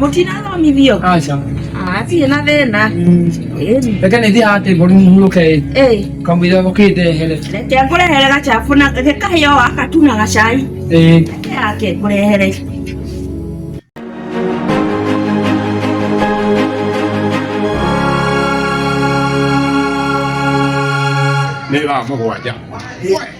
mũtina thomithio aca atirĩ na thĩna reke nĩ thiaga atĩ mbũri mũhurũke kamũira gũkĩte here reke ngũrehere gacabu na kahĩo gaka tu na gacai reke yake ngũrehere nä thaa må gwanja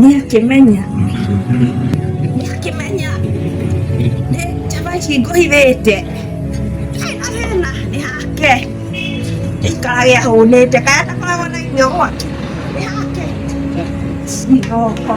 Nĩakĩmenya. Nĩakĩmenya. Nĩ njamba ici ngũhithĩte. Ndarĩ na thĩna, nĩ hake. Gĩikaraga ahũnĩte, kaya ndakoragwo na irio gwake. Nĩ hake. Cigoka.